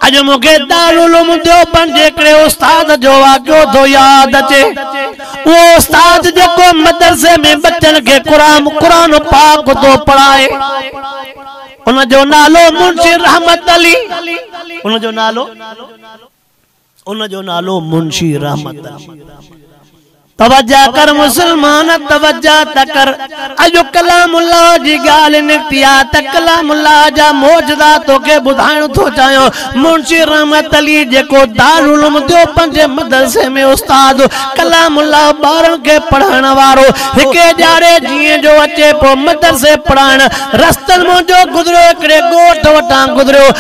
اڄ مون کي دارالعلوم ديوبند جي هڪڙي استاد جو واقعو ٿو ياد اچي. اهو استاد جيڪو مدرسي ۾ ٻچن کي قرآن قرآن پاڪ ٿو پڙهائي. ان جو نالو منشي رحمت علي. ان جو نالو. ان جو نالو منشي رحمت آ. توجه ڪر مسلمان توجه ته ڪر اڄ ڪلام الله جي ڳالهه نڪتي آ ته ڪلام الله جا معجزا توکي ٻڌائڻ ٿو چاهيان منشي رحمت علي جيڪو دارالعلوم ديوبند جي مدرسي ۾ استاد ڪلام الله ٻارن کي پڙهائڻ وارو هڪ اجاڙي جيئن جو اچي پيو مدرسي پڙهائڻ رستن منهنجو گذريو هڪڙي ڳوٺ وٽان گذريو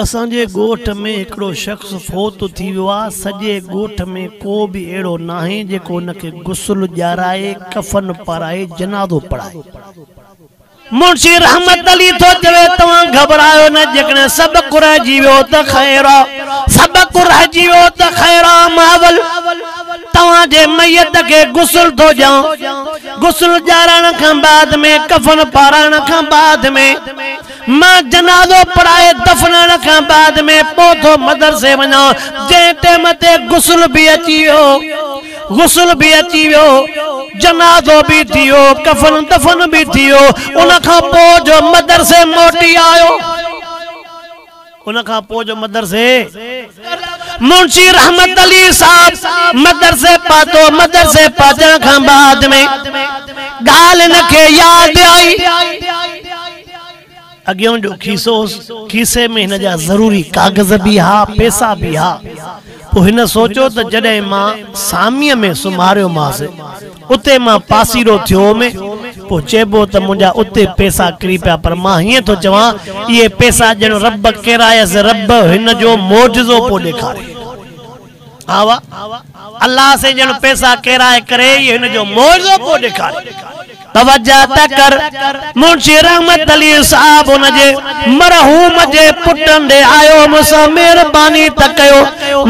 اسان جي ڳوٺ ۾ هڪڙو شخص فوت ٿي ويو آ، سڄي ڳوٺ ۾ ڪو به اهڙو ناهي جيڪو ان کي غسل ڏيارائي، ڪفن پارائي، جنازو پڙهائي. منشي رحمت علي ٿو چوي، توهان گهٻرايو نه، جيڪڏهن سڀ ڪو رهجي ويو ته خير آ، سڀ ڪو رهجي ويو ته خير آ، مان اول توهان جي ميت کي غسل ٿو ڏيان، غسل ڏيارائڻ کان بعد ۾ ڪفن پارائڻ کان بعد ۾. مان جنازو پڙهائي دفنائڻ کان بعد ۾ پوء ٿو مدرسي وڃان، جنهن ٽيم تي غسل به اچي ويو. غسل به اچي ويو، جنازو به ٿي ويو، ڪفن دفن به ٿي ويو، ان کان پوء جو مدرسي موٽي آيو. ان کان پوء جو مدرسي منشي رحمت علي صاحب مدرسي پاتو مدرسي پاتڻ کان بعد ۾ ڳالهه ان کي ياد آئي اڳيون جو کيسو هوس کيسي ۾ هن جا ضروري ڪاغذ به ها پيسا به ها پوء هن سوچيو ته جڏهن مان ساميء ۾ سمهاريومانس اتي مان پاسيرو ٿيو هومي. پوء چئبو ته منهنجا اتي پئسا ڪري پيا پر مان هيئن ٿو چوان اهي پئسا ڄڻ رب ڪيرايس رب هن جو معجزو پيو ڏيکاري. ها وا الله سين ڄڻ پئسا ڪيرائي ڪري هي هن جو معجزو پيو ڏيکاري. توجه ته ڪر. منشي رحمت علي صاحب ان جي مرحوم جي پٽن ڏي آيو هوس، مهرباني ته ڪيو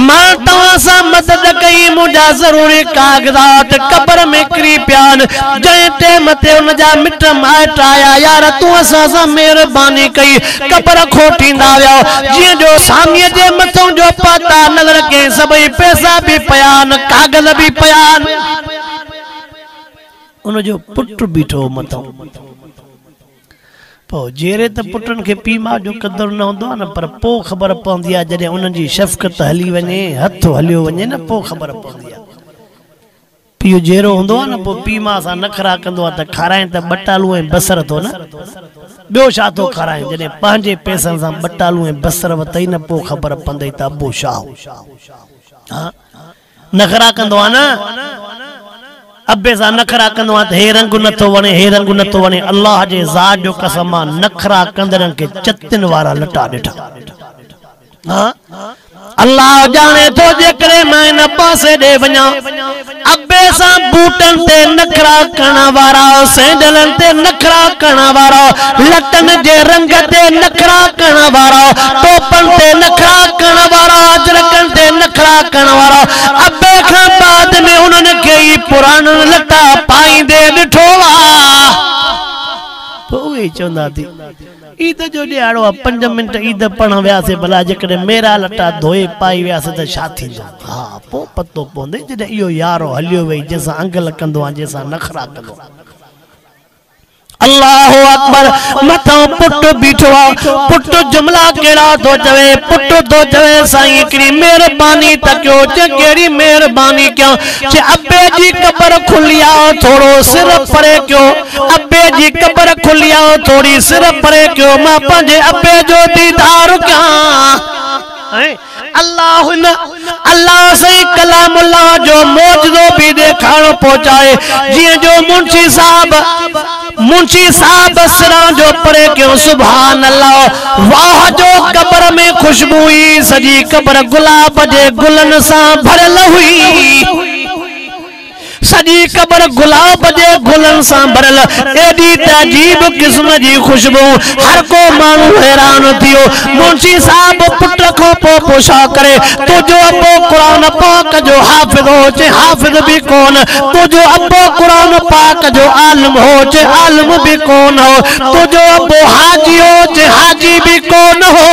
مان توهان سان مدد ڪئي، منهنجا ضروري ڪاغذات قبر ۾ ڪري پيا آهن، جنهن ٽيم تي ان جا مٽ مائٽ آيا يار تون اسان سان مهرباني ڪئي قبر کوٽيندا ويا جيئن جو ساميء جي مٿئون جو پاتا نظر ڪيائين سڀئي پئسا به پيا آهن ڪاغذ به پيا آهن. ان جو پٽ بيٺو هو متئون. پوء جيئري ته پٽن کي پيء ماء جو قدر نه هوندو آهي نه، پر پوء خبر پوندي آهي جڏهن انهن جي شفقت هلي وڃي، هٿ هليو وڃي نه پوء خبر پوندي آهي. پيء جيئرو هوندو آهي نه پوء پيء ماء سان نخرا ڪندو آهي ته کارائين ته ٻٽالو ۽ بصر ٿو نه، ٻيو ڇا ٿو کارائين، جڏهن پنهنجي پئسن سان ٻٽالو ۽ بصر وتئي نه پوء خبر پوندئي ته ابو ڇا هو. نخرا ڪندو آهي نه ابي سان نخرا ڪندو آهي ته هي رنگ نه ٿو وڻي هي رنگ نه ٿو وڻي الله جي ذات جو قسم مان نخرا ڪندڙن کي چتن وارا لٽا ڏٺا ها الله ڄاڻي ٿو جيڪڏهن مان ان پاسي ڏي وڃان ابي سان بوٽن تي نخرا ڪرڻ وارا سينڊلن تي نخرا ڪرڻ وارا لٽن جي رنگ تي نخرا ڪرڻ وارا، ٽوپن تي نخرا ڪرڻ وارا، اجرڪن تي نخرا ڪرڻ وارا، ابي کان بعد ۾ انهن کي ئي پراڻن لٽا پائيندي ڏٺو آ. پوء اهي چوندا ته عيد جو ڏيهاڙو آ، پنج منٽ عيد پڙهڻ وياسي، ڀلا جيڪڏهن ميرا لٽا ڌوئي پائي وياسي ته ڇا ٿيندو؟ ها، پوء پتو پوندي جڏهن اهو يارو هليو ويئي جنهن سان انگ لڪندو آن جنهن سان نخرا ڪندو آن. الله اڪبر مٿان پٽ بيٺو آ پٽ جملا ڪهڙا ٿو چوي پٽ ٿو چوي سائين هڪڙي مهرباني ته ڪيو چي ڪهڙي مهرباني ڪيان چي ابي جي قبر کلي آ ٿورو سر پري ڪيو ابي جي قبر کلي آ ٿوري سر پري ڪيو مان پنهنجي ابي جو ديدار ڪيان الله ان الله سائين ڪلام الله جو معجزو به ڏيکارڻو پهچائي جيئن جو منشي صاحب منشي صاحب سران جو پري ڪيو سبحان الله واه جو قبر ۾ خوشبو هئي سڄي قبر گلاب جي گلن سان ڀريل هئي سڄي قبر گلاب جي گلن سان ڀريل، ايڏي ته عجيب قسم جي خوشبو، هر ڪو ماڻهو حيران ٿيو. منشي صاحب پٽ کان پوء پڇا ڪري، تنهنجو ابو قرآن پاڪ جو حافظ هو؟ چي حافظ به ڪونه. تنهنجو ابو قرآن پاڪ جو عالم هو؟ چي عالم به ڪونه هو. تنهنجو ابو حاجي هو؟ چي حاجي به ڪونه هو.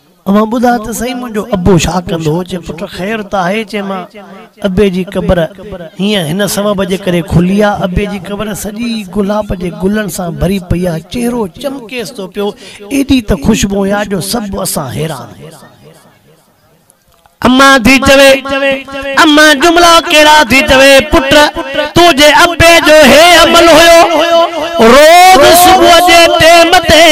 اوهان ٻڌاء ته سهي منهنجو ابو ڇا ڪندو هو؟ چي پٽ خير ته آهي؟ چي مان ابي جي قبر هينئن هن سبب جي ڪري کلي آ، ابي جي قبر سڄي گلاب جي گلن سان ڀري پئي آ، چهرو چمڪيس ٿو پيو، ايڏي ته خوشبوء آ جو سڀ اسان حيران. امان ٿي چوي، امان جملا ڪهڙا ٿي چوي، پٽ تنهنجي ابي جو هي عمل هيو، روز صبح جي ٽيم تي،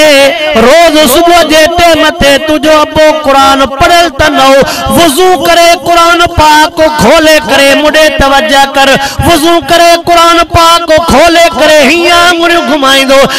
روز صبح جي ٽيم تي تنهنجو ابو قرآن پڙهيل ته نه هو، وضو ڪري قرآن پاڪ کولي ڪري مون ڏي توجه ڪر، وضو ڪري قرآن پاڪ کولي ڪري هيئن آڱريون گهمائيندو،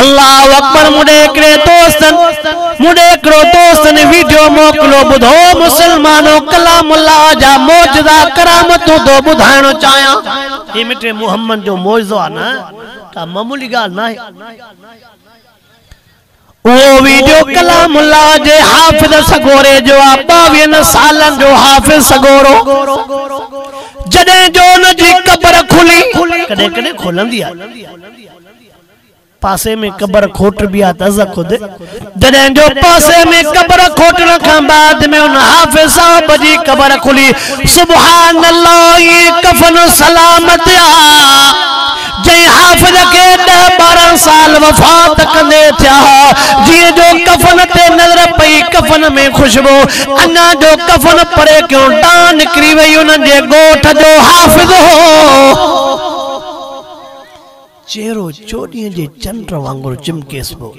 الله اڪبر مون ڏي هڪڙي دوستن مون ڏي هڪڙو دوستن ويڊيو موڪلو ٻڌو مسلمانو ڪلام الله جا معجزا ڪرامتون ٿو ٻڌائڻ چاهيان. هي مٽي محمد جو معجزو آهي نه ڪا معمولي ڳالهه ناهي. اهو ويڊيو ڪلام الله جي حافظ سڳوري جو آ ٻاويهن سالن جو حافظ سڳورو جڏهن جو ان جي قبر کلي ڪڏهن ڪڏهن کولندي آهي. پاسي ۾ قبر کوٽبي آ ته از خود جڏهن جو پاسي ۾ قبر کوٽڻ کان بعد ۾ ان حافظ صاحب جي قبر کلي سبحان الله اي ڪفن سلامت آ جنهن حافظ کي ڏهه ٻارهن سال وفات ڪندي ٿيا ها جنهن جو ڪفن تي نظر پئي ڪفن ۾ خوشبو اڃا جو ڪفن پري ڪيون ڏانهن نڪري وئي انهن جي ڳوٺ جو حافظ هو. چهرو چوڏهين جي چنڊ وانگر چمڪيس پيو.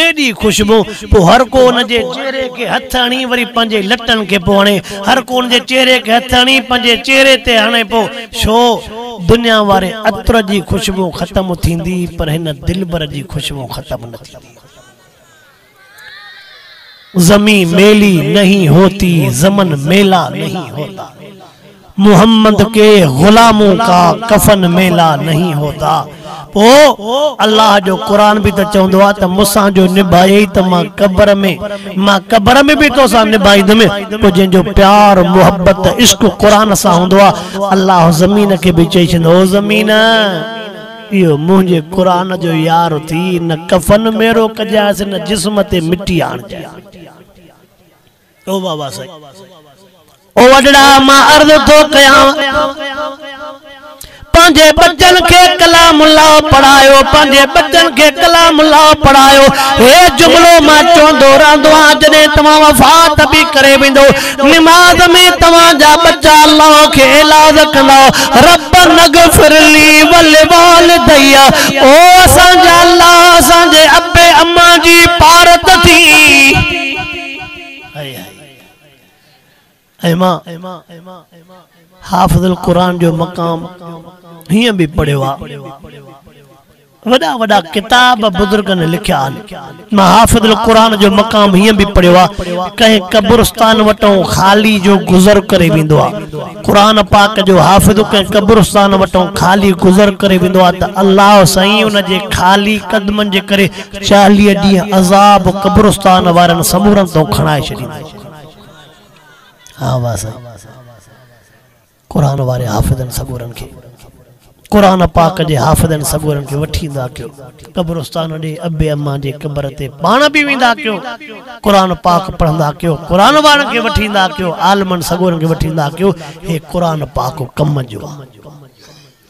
ايڏي خوشبو! پوء هر ڪو ان جي چهري کي هٿ هڻي وري پنهنجي لٽن کي پيو هڻي. هر ڪو ان جي چهري کي هٿ هڻي پنهنجي چهري تي هڻي پيو. ڇو؟ دنيا واري عطر جي خوشبو ختم ٿيندي پر هن دلبر جي خوشبو ختم نه ٿيندي. زمين ميلي نهين هوتي زمن ميلا نهين هوتا محمد ڪي غلامون ڪا ڪفن ميلا نهين هوتا پوء الله جو قرآن به ته چوندو آهي ته مون سان جو نڀائيئي ته مان قبر ۾ مان قبر ۾ به تو سان نڀائيندم پوء جنهن جو پيار محبت عشق قرآن سان هوندو آهي الله زمين کي به چئي ڇڏيندو او زمين اهو منهنجي قرآن جو يار ٿي، نه ڪفن ميرو ڪجانئس نه جسم تي مٽي آڻجانئس. او بابا سائين! او وڏڙا! مان عرض ٿو ڪيانء، پنهنجي ٻچن کي ڪلام الله پڙهايو، پنهنجي ٻچن کي ڪلام الله پڙهايو. هي جملو مان چوندو رهندو آهيان، جڏهن توهان وفات به ڪري ويندؤ. نماز ۾ توهان جا ٻچا الله کي ايلاز ڪندا ربنا اغفر لي ولوالدي او اسان جا الله اسان جي ابي اما جي پارت ٿي هائي هائي ايما حافظ القرآن جو مقام هيئن به پڙهيو آ وڏا وڏا ڪتاب بزرگن لکيا آهن. مان حافظ القرآن جو مقام هيئن به پڙهيو آ، ڪنهن قبرستان وٽئون خالي جو گذر ڪري ويندو آ. قرآن پاڪ جو حافظ ڪنهن قبرستان وٽئون خالي گذر ڪري ويندو آ ته الله سائين ان جي خالي قدمن جي ڪري چاليهه ڏينهن عذاب قبرستان وارن سمورن تئون کڻائي ڇڏيندو آ. ها وا سائين! قرآن واري حافظن سڳورن کي قرآن پاڪ جي حافظن سڳورن کي وٺي ايندا ڪيو قبرستان ڏي ابي امان جي قبر تي پاڻ به ويندا ڪيو قرآن پاڪ پڙهندا ڪيو قرآن وارن کي وٺي ايندا ڪيو عالمن سڳورن کي وٺي ايندا ڪيو هي قرآن پاڪ ڪم جو آ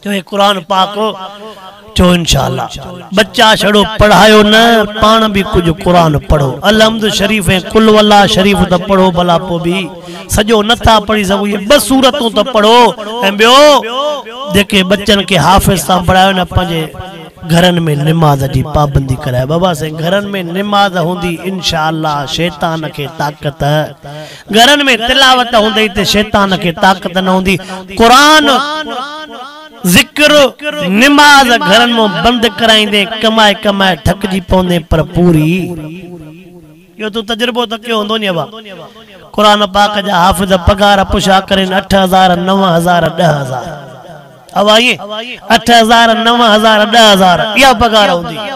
جو هي قرآن پاڪ هو چئو انشاء الله ٻچا ڇڙو پڙهايو نه پاڻ به ڪجهه قرآن پڙهو الحمد شريف ۽ قل هو الله شريف ته پڙهو ڀلا پوء به سڄو نه ٿا پڙهي سگهو اهي ٻه سورتون ته پڙهو ۽ ٻيو جيڪي ٻچن کي حافظ تان بڻايو نه پنهنجي گهرن ۾ نماز جي پابندي ڪرايو بابا سائين گهرن ۾ نماز هوندي انشاء الله شيطان کي طاقت گهرن ۾ تلاوت هوندي ته شيطان کي طاقت نه هوندي. قرآن، ذڪر، نماز گهرن مان بند ڪرائيندي ڪمائي ڪمائي ٿڪجي پوندين پر پوري. اهو تون تجربو ته ڪيو هوندو ني ابا. قرآن پاڪ جا حافظ پگهار پشا ڪرين اٺ هزار، نو هزار، ڏهه هزار. ابا ائين اٺ هزار، نو هزار، ڏهه هزار اها پگهار هوندي هئي.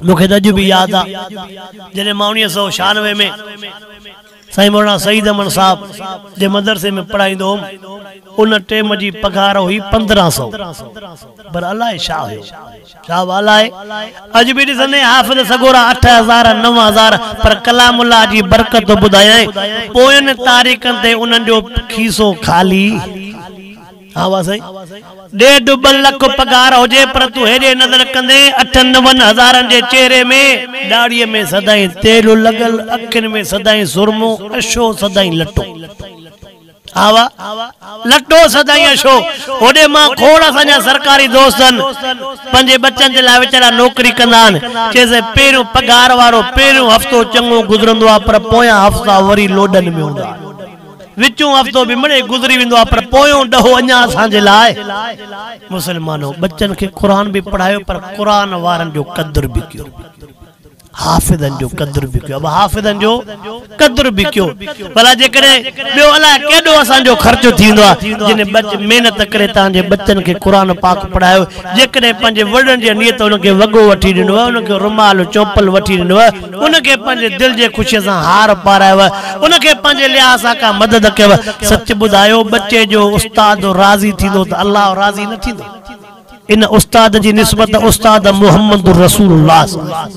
مون کي ته اڄ به ياد آ جڏهن مان اڻيهه سؤ ڇهانوي ۾ سائين مولانا سعيد امن صاحب جي مدرسي ۾ پڙهائيندو هوم ان ٽيم جي پگهار هئي پندرهن سؤ پر الاء ڇا هيو صاحب الاء اڄ به ڏسندين حافظ سڳورا اٺ هزار نو هزار پر ڪلام الله جي برڪتون ٻڌايائين پوين تاريخن تي انهن جو کيسو خالي ها وا سائين ڏيڍ ٻه لک پگهار هجي پر تون هيڏي نظر ڪندين اٺن نون هزارن جي چهري ۾ ڏاڙهي ۾ سدائين تيل لڳل اکين ۾ سدائين سرمو اشو سدائين لٽو ها وا لٽو سدائين اشو هوڏي مان کوڙ اسان جا سرڪاري دوست آهن پنهنجي ٻچن جي لاء ويچارا نوڪري ڪندا آهن چئي سائين پهريون پگهار وارو پهريون هفتو چڱو گذرندو آهي پر پويان هفتا وري لوڏن ۾ هوندا آهن وچون هفتو به مڙئي گذري ويندو آهي پر پويون ڏهو اڃا اسان جي لاء مسلمانو ٻچن کي قرآن به پڙهايو پر قرآن وارن جو قدر به ڪيو حافظن جو قدر به ڪيو حافظن جو قدر به ڪيو ڀلا جيڪڏهن ٻيو الاء ڪيڏو اسان جو خرچ ٿيندو آهي جن ٻچ محنت ڪري تان جي ٻچن کي قرآن پاڪ پڙهايو جيڪڏهن پنهنجي وڏن جي نيت ان کي وڳو وٺي ڏنو انهن کي رومال چوپل وٺي ڏنو ان کي پنهنجي دل جي خوشيء سان هار پارايو، ان کي پنهنجي لحاظ سان ڪا مدد ڪيو، سچ ٻڌايو ٻچي جو استاد راضي ٿيندو ته الله راضي نه ٿيندو؟ ان استاد جي نسبت استاد محمد رسول الله سان آهي.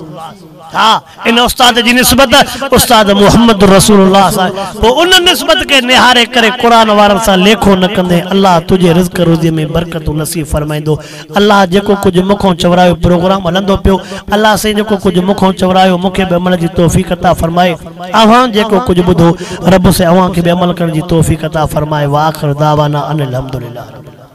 ها ان استاد جي نسبت استاد محمد رسول الله سان آهي. پوء ان نسبت کي نهاري ڪري قرآن وارن سان ليکو نه ڪندين الله تنهنجي رزق روزيء ۾ برڪتون نصيب فرمائيندو. الله جيڪو ڪجهه مون کان چورايو پروگرام هلندو پيو الله سائين جيڪو ڪجهه مون کان چورايو مون کي به عمل جي توفيق عطا فرمائي اوهان جيڪو ڪجهه ٻڌو رب سائين اوهان کي به عمل ڪرڻ جي توفيق عطا فرمائي واخر دعوانا ان الحمدلله رب العالمين.